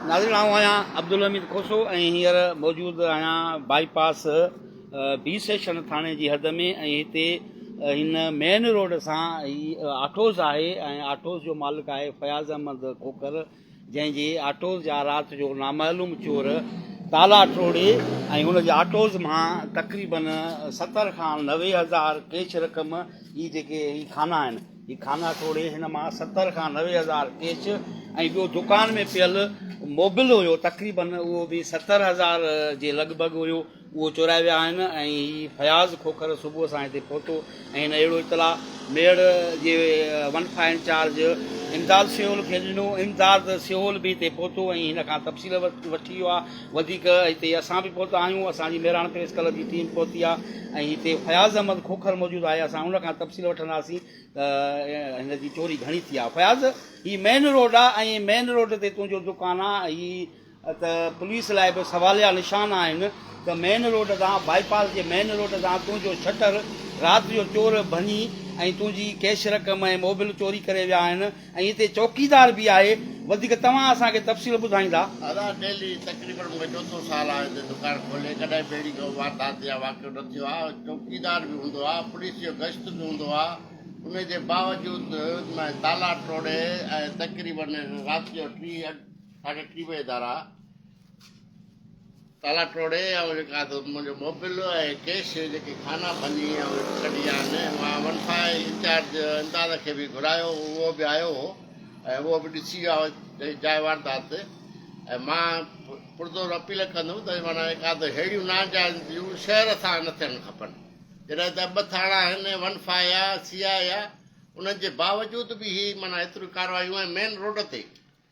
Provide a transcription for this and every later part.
ناظرين آئون آهيان عبدالحميد کوسو ۽ هينئر موجود آهيان بائي پاس بي سيشن ٿاڻي جي حد ۾ ۽ هتي هن مين روڊ سان هي آٽوز آهي ۽ آٽوز جو مالڪ آهي فياض احمد کوکر جنهن جي آٽوز جا رات جو نامعلوم چور تالا ٽوڙي ۽ هن جي آٽوز مان تقريبن ستر کان نوي هزار ڪيش رقم هي جيڪي هي کانا آهن هي خانه ٽوڙي هن مان ستر کان نوي هزار ڪيش ۽ ٻيو دڪان ۾ پيل موبل هيو تقريبن اهو به ستر هزار جي لڳ ڀڳ هيو اهو چورائي ويا آهن ۽ هي فياض کوکر صبح سان هتي پهتو ۽ هن اهڙو اطلاع ميڙ جي ون فائيو انچارج امداد سيول کي ڏنو امداد سيول به هتي پهتو ۽ هن کان تفصيل وٺي ويو آهي وڌيڪ هتي اسان به پهتا آهيون اسان جي مهراڻ پريس ڪلب جي ٽيم پهتي آهي ۽ هتي فياض احمد کوکر موجود آهي اسان ان کان تفصيل وٺنداسين ته هن جي چوري گهڻي ٿي آهي فياض هي مين روڊ آهي ۽ مين روڊ تي تنهنجو دڪان آهي هي ته پوليس لاء به سواليا نشان آهن ته مين روڊ تان بائي پاس جي مين روڊ تان تنهنجو شٽر رات جو چور ڀڃي ۽ تنهنجي ڪيش رقم ۽ موبل چوري ڪري ويا آهن ۽ هتي چوڪيدار به آهي وڌيڪ توهان اسان کي تفصيل ٻڌائيندا. ادا ڊيلي تقريبن مون کي چوٿون سال آهي هتي دڪان کولي ڪڏهن به اهڙي ڪو واردات يا واقعو نه ٿيو آهي چوڪيدار به هوندو آهي پوليس جو گشت به هوندو آهي انهي جي باوجود مين تالا ٽوڙي ۽ تقريبن رات جو ٽي ساڍي ٽي بجي ادارا تالا ٽوڙي آئون جيڪا سو منهنجو موبل ۽ ڪيش جيڪي خانا ڀڃي آئون ڪڍي آهن مان ون فائي انچارج امداد کي به گهرايو اهو به آيو هو ۽ اهو به ڏسي ويو آهو جاء واردات تي ۽ مان پرزور اپيل ڪندم ته معنيٰ جيڪا سو ههڙيون ناجائز جون شهر سان نه ٿيڻ کپن جڏهن ته ٻه ٿاڻا آهن ون فائي آ سي آء اي آ انهن جي باوجود به هي معنيٰ ايتريون ڪاروايون ۽ مين روڊ تي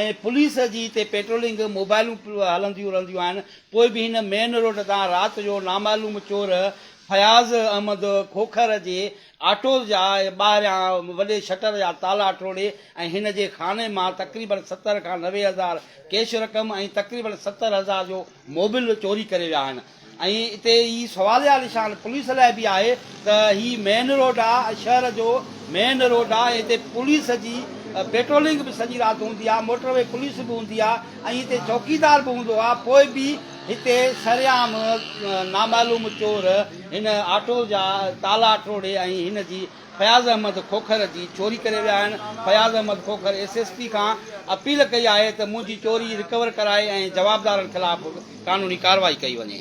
۽ پوليس جي اتي پيٽرولنگ موبائلون هلنديون رهنديون آهن پوء به هن مين روڊ تان رات جو نامعلوم چور فياض احمد کوکر جي آٽو جا ٻاهريان وڏي شٽر جا تالا ٽوڙي ۽ هن جي خاني مان تقريبن ستر کان نوي هزار ڪيش رقم ۽ تقريبن ستر هزار جو موبل چوري ڪري ويا آهن. ۽ اتي هي سوال جا نشان پوليس لاء به آهي ته هي مين روڊ آ شهر جو مين روڊ آ ۽ هتي پوليس جي پيٽرولنگ به سڄي رات هوندي آ موٽر وي پوليس به هوندي آ ۽ هتي چوڪيدار به هوندو آ پوء به هتي سرعام نامعلوم چور هن آٽو جا تالا ٽوڙي ۽ هن جي فياض احمد کوکر جي چوري ڪري ويا آهن Fayaz Ahmed Khokhar S S P کان اپيل ڪئي آهي ته منهنجي چوري رڪور ڪرائي ۽ جوابدارن خلاف قانوني ڪارروائي ڪئي وڃي.